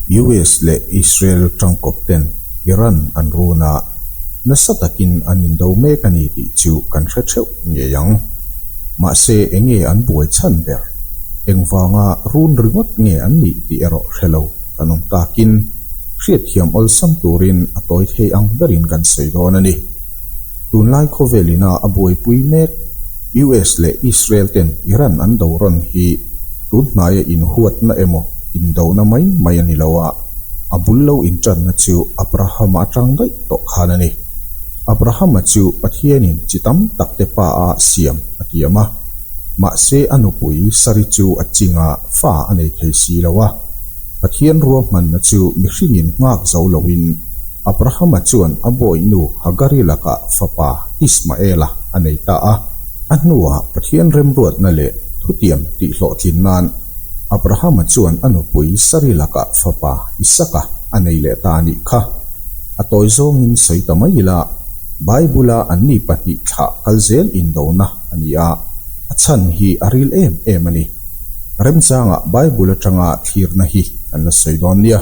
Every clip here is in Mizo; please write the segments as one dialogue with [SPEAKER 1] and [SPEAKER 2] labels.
[SPEAKER 1] US leh Israel tangkawp ten Iran an runa nasa takin an indo mek a ni tih chu kan hre theuh ngei ang. Mahse enge an buai chhan ber? Engvanga run ringawt nge an nih tih erawh hrelo. Kan awm takin hriatthiam awlsam turin a tawi thei ang berin kan sawi dawn a ni. Tunlai khawvelina a buaipui mek US leh Israel ten Iran an do rawn hi tun hnaia inhuatna emaw indona mai mai a ni lo a, a bul lo intanna chu Abrahama atang daih tawh khan a ni. Abrahama chu Pathianin chi tam tak te pa a siam a tiam a, mahse a nupui Sari chu a chingah fa a nei thei si lo a. Pathian ruahmanna chu mihringin nghak zo loin, Abrahama chuan a bawihnu Hagari lakah fapa Ismaela a nei ta a. A hnuah Pathian remruatna leh thutiam tihhlawhtlin nan Abrahama chuan a nupui Sari lakah fapa Isaka a nei leh ta anih kha a tawi zawngin sawi ta mai ila, Bible-a anni pahnih thlah kal zel indona a ni a, a chhan hi a ril em em a ni. Remchangah Bible atanga thlirna hi kan la sawi dawn nia.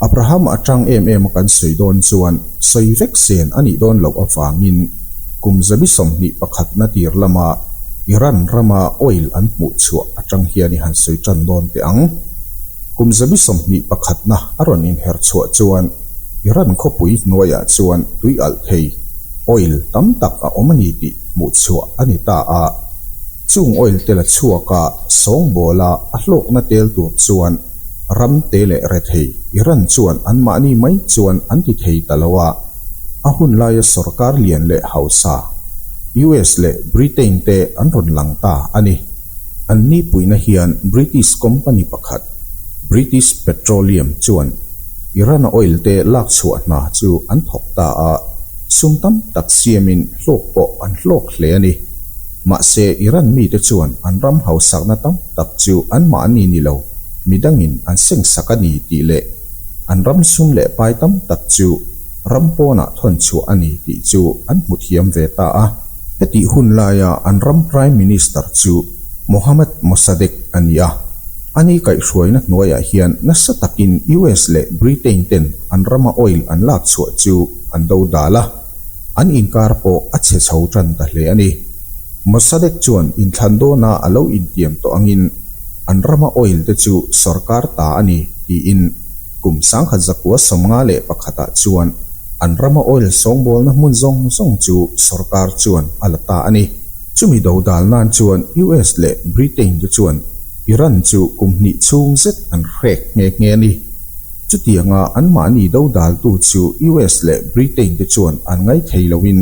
[SPEAKER 1] Abraham atang em em a kan sawi dawn chuan sawi vek zen a nih dawn loh avangin kum zabi sawmhnih pakhat na tir lama Iran rama oil an hmuh chhuah atang hian i han sawi tan dawn teh ang. Kum zabi sawmhnih pakhatna a rawn inher chhuah chuan Iran khawpui hnuaiah chuan tui alh thei, oil, tam tak a awm a ni tih hmuhchhuah a ni ta a, chung oil te la chhuak a sawngbawl a, a hlawkna tel tur chuan ram te leh rethei Iran chuan anmahni mai chuan an ti thei ta lo a, a hun laia sorkar lian leh hausa US leh Britain te an rawn lang ta a ni. An nipuina hian British company pakhat, British Petroleum, chuan Iran-a oil te lak chhuah hna chu an thawk ta a, sum tam tak siamin hluk pawh an hluk hle a ni. Mahse, Iran mite chuan an ram hausakna tam tak chu anmah a ni ni lo, mi dangin an sengsak a ni tih leh an ram sum leh pai tam tak chu ram pawnah thawn chhuah a ni tih chu an hmu thiam ve ta a. Hetih hun laia an ram Prime Minister chu Mohammad Mossadegh a ni a. A ni kaihhruaina hnuaiah hian nasa takin US leh Britain ten an rama oil an lak chhuah chu an do dal a, an inkar pawh a chhe chho tan ta hle a ni. Mossadegh chuan inthlan dawna a lo intiam tawh angin an rama oil te chu sorkar ta a ni tiin, Kum sangkhat zakua sawmnga leh pakhatah chuan an rama oil sawngbawlna hmun zawng zawng chu sawrkar chuan a la ta a ni. Chumi do dal nan chuan US leh Britain te chuan Iran chu kum hnih chhung zet an hrek nghe nghe a ni. Chutianga anmahni do daltu chu US leh Britain te chuan an ngai thei loin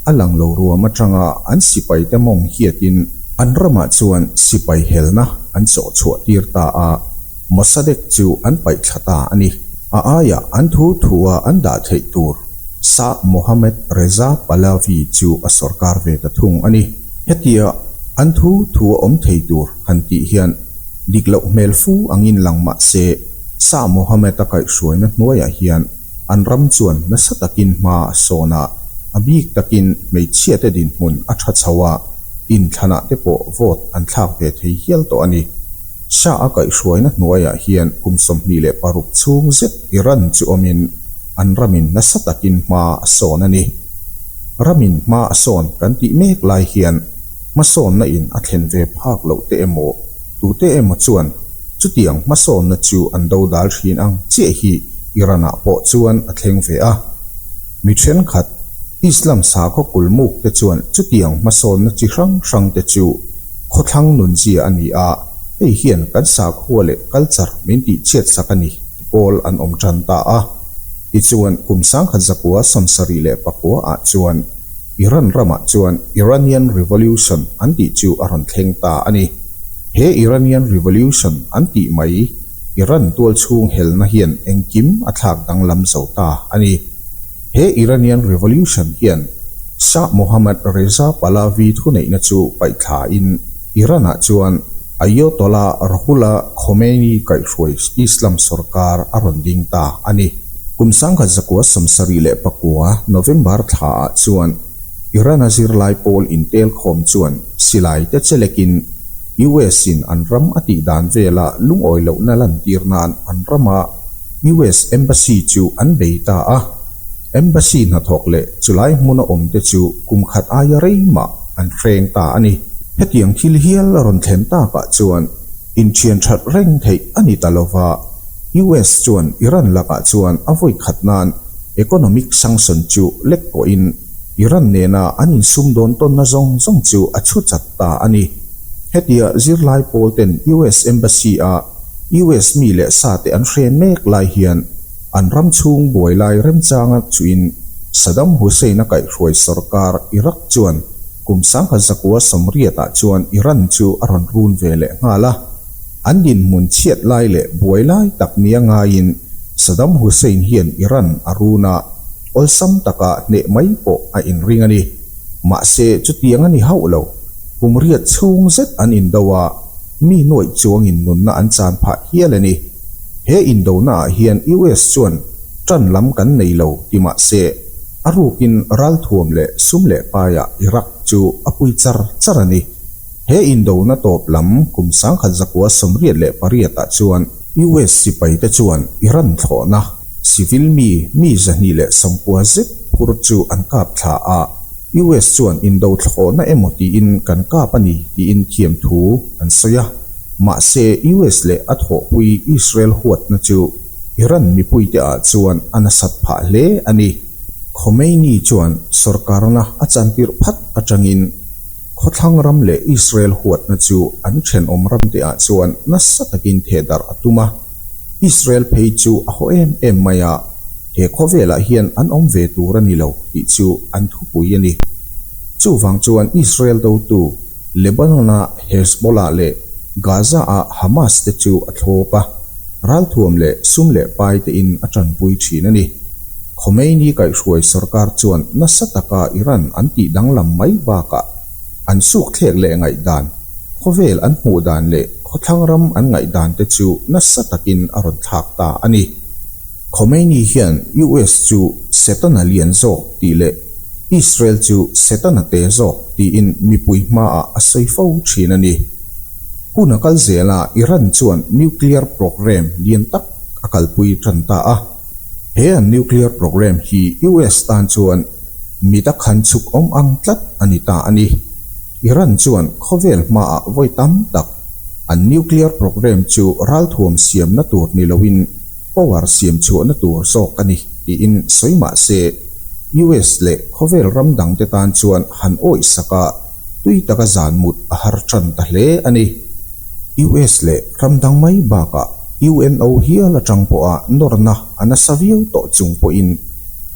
[SPEAKER 1] a lang lo ruam atanga an sipai te mawng hiatin an ramah chuan sipai helna an chawhchhuah tir ta a. Hmasa dek chu an paihthla ta a ni. A aiah an thu thua an dah theih tur Shah Mohammad Reza Pahlavi chu a sorkar ve ta thung a ni. Hetia an thu thua awm thei tur han tih hian dik loh hmel fu ang in lang mah se, Shah Mohammad-a kaihhruaina hnuaiah hian an ram chuan nasa takin hma sawn a, a bik takin hmeichhiate dinhmun a tha chho a, inthlana te pawh vote an thlak ve thei hial tawh a ni. Shah a kaihhruaina hnuaiah hian kum sawmhnih leh paruk chhung zet Iran chu awmin an ram in nasa takin hma a sawn a ni. Ram in hma a sawn kan tih mek lai hian hmasawnna in a thlen ve phak loh te emaw tute emaw chuan chutiang hmasawnna chu an do dal thin ang chiah hi Iran-ah pawh chuan a thleng ve a. Mi thenkhat Islam sakhaw kulmukte chuan chutiang hmasawnna chi hrang hrangte chu Khawthlang nun zia a ni a, hei hian kan sakhua leh culture min tih chhiat sak a ni ti pawl an awm tan ta a. Tichuan, kum sangkhat zakua sawn sarih leh pakua ah chuan Iran ramah chuan Iranian Revolution an tih chu a rawn thleng ta a ni. He Iranian Revolution an tih mai Iran tualchhung helna hian engkim a thlak danglam zo ta a ni. He Iranian Revolution hian Shah Mohammad Reza Pahlavi thuneihna chu paihthlain Iran-ah chuan Ayotollah Ruhollah Khomeini kaihhruai Islam sorkar a rawn ding ta a ni. Kum sangkhat zakua samsari leh pakua, November, thlaah chuan Iran-a zirlai pawl intelkhawm chuan silaite che lekin US-in an ram a tihdan vela lungawi lohna lantir nan an rama US Embassy chu an bei ta a, Embassy hnathawk leh chulai hmun a awm te chu kum khat aia rei mah an hreng ta a ni. Hetiang thil hial a rawn thlen tak ah chuan inthian that reng theih a ni ta lo va, US chuan Iran lakah chuan a vawi khat nan economic sanction chu lek pawh in Iran nena an insumdawn tawnna zawng zawng chu a chhuchat ta a ni. Hetia zirlai pawl ten US Embassy-a US mi leh sate an hre mek lai hian an ram chhung buai lai rem changa chuin Saddam Hussein-a kaihhruai sorkar Iraq chuan kum sangha zakua sawmriatah chuan Iran chu a rawn run ve leh nghal a. An dinhmun chhiat lai leh buai lai tak nia ngaiin Saddam Hussein hian Iran a run a. awlsam taka hneh mai pawh a inring a ni. Mahse, chutiang a ni hauh lo, kum riat chhung zet an indo a, mi nuaih chuangin nunna an chan phah hial a ni. He indonaah hian US chuan ṭan lam kan nei lo ti mah se, a rukin ral thuam leh sum leh paia Iraq chu a pui char char a ni. He indona tawp lam kum sangkhat zakua sawmriat leh pariatah chuan, US sipaite chuan Iran thlawhna civil mi mi zahnih leh sampua zet phur chu an kap thla a, US chuan indo thlawhna emaw tiin kan kap a ni tiin thiam thu an sawi a. Mahse, US leh a thawhpui Israel huatna chu Iran mipuite ah chuan a nasat phah hle a ni. Khomeini chuan sorkarna a chantirh phat atangin, Khawthlang ram leh Israel huatna chu an thenawm ram te ah chuan nasa takin thehdarh a tum a. Israel phei chu a haw em em mai a, he khawvel ah hian an awm ve tur a ni lo tih chu an thupui a ni. Chuvang chuan Israel dotu Lebanon ah Hezbollah leh Gaza ah Hamas te chu a thlawp a. Ralthuam leh sum leh pai te in a tanpui thin a ni. Khomeini kaihhruai sorkar chuan nasa taka Iran an tih danglam mai bakah an sukthlek leh ngaihdan, khawvel an hmuh dan leh khawthlang ram an ngaihdan te chu nasa takin a rawn thlak ta a ni. Khomeini hian US chu setana lian zawk tih leh Israel chu setana te zawk tiin mipui hmaah a sawi fo thin a ni. Hun a kal zel a, Iran chuan nuclear programme lian tak a kalpui tan ta a. He an nuclear programme hi US tan chuan mit a khan chhuk awm ang tlat a ni ta a ni. Iran chuan khawvel hmaah vawi tam tak an nuclear programme chu ralthuam siamna tur ni loin power siamchhuahna tur zawk a ni tiin sawi mah se, US leh khawvel ram dangte tan chuan han awihsak a. tui taka zan mut a har tan ta hle a ni. US leh ram dang mai bakah UNO hial atang pawha nawrna a nasa viau tawh chung pawhin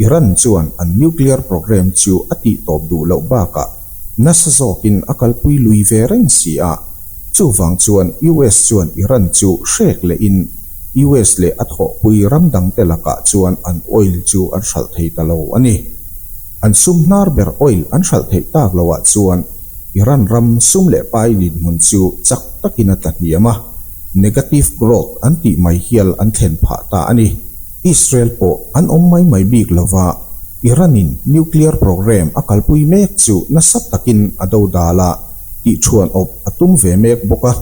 [SPEAKER 1] Iran chuan an nuclear programme chu a tih tawp duh loh bakah nasa zawkin a kalpui lui ve reng si a, chuvang chuan US chuan Iran chu hrek lehin US leh a thawhpui ram dangte lakah chuan an oil chu an hralh thei ta lo a ni. An sum hnar ber oil an hralh theih tak lo ah chuan Iran ram sum leh pai lin hmun chu chak takin a tla hniam a, negative growth an tih mai hial an thlen phah ta a ni. Israel pawh an awm mai mai bik lo va, Iran-in nuclear programme a kalpui mek chu nasa takin a dodal a, tihchhuan awp a tum ve mek bawk a.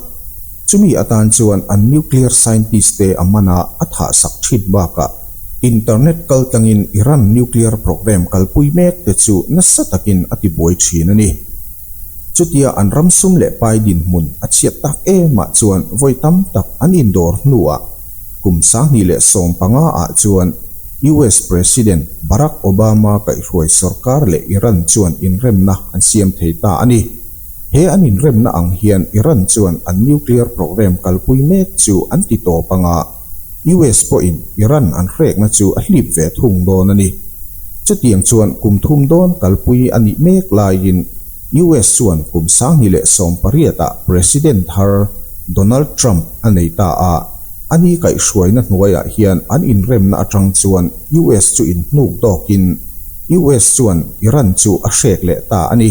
[SPEAKER 1] Chumi atan chuan an nuclear scientist te a mana a thahsak thit bakah internet kal tlangin Iran nuclear programme kalpui mek te chu nasa takin a tibuai thin a ni. Chutia an ram sum leh pai dinhmun a chhiat tak emah chuan vawi tam tak an indawr hnuah kum sahni leh sawm panga ah chuan US President Barack Obama kaihhruai sawrkar leh Iran chuan inremna an siam thei ta a ni. He an inremna ang hian Iran chuan an nuclear programme kalpui mek chu an ti tawp anga, US pawhin Iran an hrekna chu a hlip ve thung dawn a ni. Chutiang chuan kum thum dawn kalpui a nih mek laiin US chuan kum sanghnih leh sawm pariatah President har Donald Trump a nei ta a, a ni kaihhruaina hnuaiah hian an inremna atang chuan US chu inhnuk dawkin US chuan Iran chu a hrek leh ta a ni.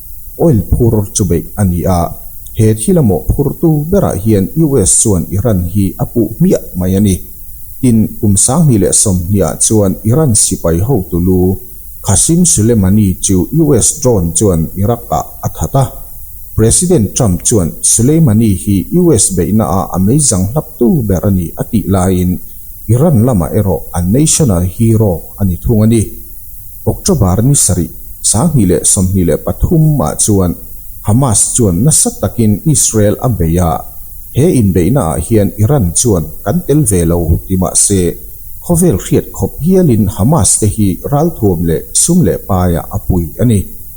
[SPEAKER 1] Oil phur chu beih a ni a. He thil a mawh phurtu berah hian US chuan Iran hi a puh hmiah mai a ni. Tin, kum sanghnih leh sawmhniah chuan Iran sipai hotu lu Qasem Soleimani chu US drone chuan Iraq-ah a that a. President Trump chuan Soleimani hi US beihnaah a meizang hlaptu ber a ni a tih laiin, Iran lama erawh an national hero a ni thung a ni. October ni sarih sanghnih leh sawmhnih leh pathum ah chuan Hamas chuan nasa takin Israel a bei a, he inbeihna ah hian Iran chuan kan tel ve lo ti mah se, khawvel hriat khawp hial in Hamas te hi ralthuam leh sum leh paiah a pui a ni.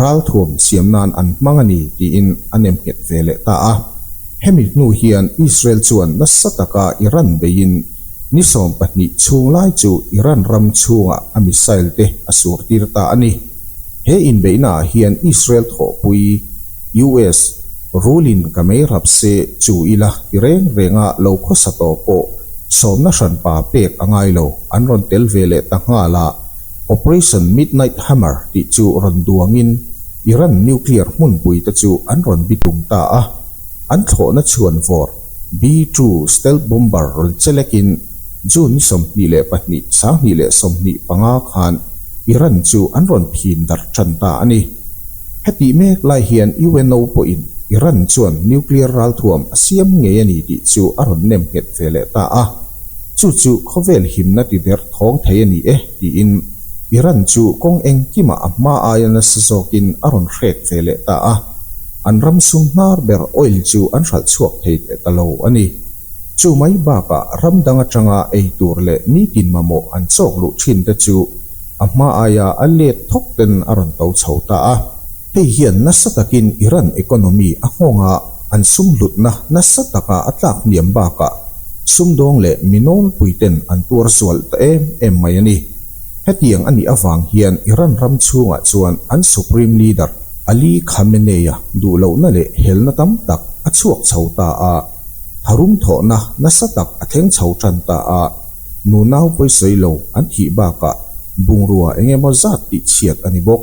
[SPEAKER 1] ralthuam siam nan an hmang a ni tiin an em nghet ve leh ta a. Hemi hnu hian Israel chuan nasa taka Iran beiin ni sawm pahnih chhung lai chu Iran ram chhungah a missile te a sur tir ta a ni. He inbeihna ah hian Israel thawhpui US rulin ka mei rap se chu ila ti reng renga lo khawsa tawh pawh sawmna hranpa pek a ngai lo an rawn tel ve leh ta nghal a, Operation Midnight Hammer tih chu rawn duangin Iran nuclear hmunpui te chu an rawn bi tum ta a, an thlawhna chhuan vawr B two stealth bomber rawn che lekin June ni sawmhnih leh pahnih, sanghnih leh sawmhnih panga khan Iran chu an rawn phin darh ṭhan ta a ni. Hetih mek lai hian UNO pawhin Iran chuan nuclear ralthuam a siam ngei a ni tih chu a rawn nem nghet ve leh ta a. Chu chu khawvel himna ti der thawng thei a ni e tiin Iran chu kawng engkimah a hma aia nasa zawkin a rawn hrek ve leh ta a, an ram sum hnar ber oil chu an hralh chhuak thei teh ta lo a ni. Chu mai bakah ram dang atanga ei tur leh nitin mamawh an chawk luh thin te chu a hma aia a let thawk ten a rawn to chho ta a. Hei hian nasa takin Iran economy a nghawng a. an sum hlutna nasa taka a tlak hniam bakah sumdawng leh mi nawnpui ten an tuar zual ta em em mai a ni. Hetiang a nih avang hian Iran ram chhungah chuan an Supreme Leader Ali Khamenei-a duhlohna leh helna tam tak a chhuak chho ta a, tharum thawhna nasa tak a thleng chho tan ta a, nunau pawisawi lo an thih bakah bungrua eng emaw zat tihchhiat a ni bawk.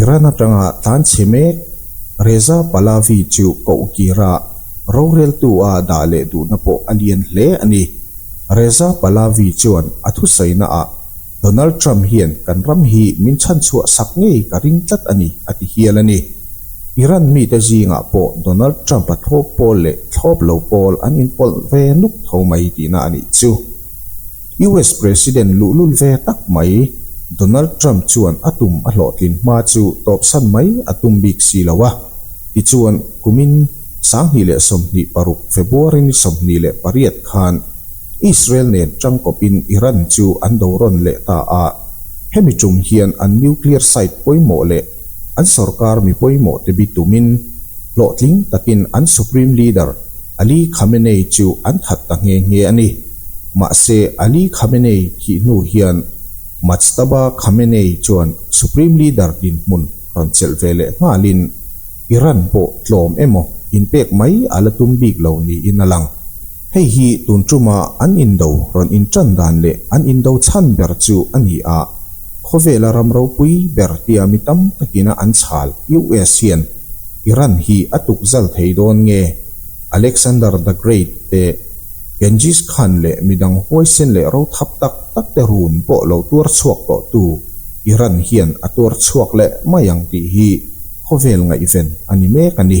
[SPEAKER 1] Iran atanga tan chhe mek Reza Pahlavi chu koh kira roreltu a dah leh duhna pawh a lian hle a ni. Reza Pahlavi chuan a thusainaah Donald Trump hian kan ram hi min chhanchhuah sak ngei ka ring tlat a ni, a ti hial a ni. Iran mite zingah pawh Donald Trump-a thlawp pawl leh thlawp lo pawl an inpawlh ve nuk tho mai tihna a nih chu. US President luhlul ve tak mai Donald Trump chuan a tum a hlawhtlin hma chu tawpsan mai a tum bik si lo a, tichuan kumin sanghnih leh sawmhnih paruk February-ni sawmhnih leh pariat khan Israel nen ṭangkawpin Iran chu an do rawn leh ta a, hemi ṭum hian an nuclear site pawimawh leh an sorkar mi pawimawhte bi tumin hlawhtling takin an Supreme Leader Ali Khamenei chu an that ta nghe nghe a ni. Mahse, Ali Khamenei thih hnu hian Majtaba Khamenei chuan Supreme Leader dinhmun rawn chelh ve leh nghalin Iran pawh tlawm emaw inpek mai a la tum bik lo niin a lang. Hei hi tun ṭuma an indo rawn inṭan dan leh an indo chhan ber chu a ni a, khawvela ram ropui ber tia mi tam takin a an chhal. US hian. Iran hi a tukzal thei dawn nge? Alexander the Great te, Genghis Khan leh midang huaisen leh rothap tak tak te run pawh lo tuar chhuak tawh tu Iran hian a tuar chhuak leh mai ang tih hi khawvel ngaihven a ni mek a ni.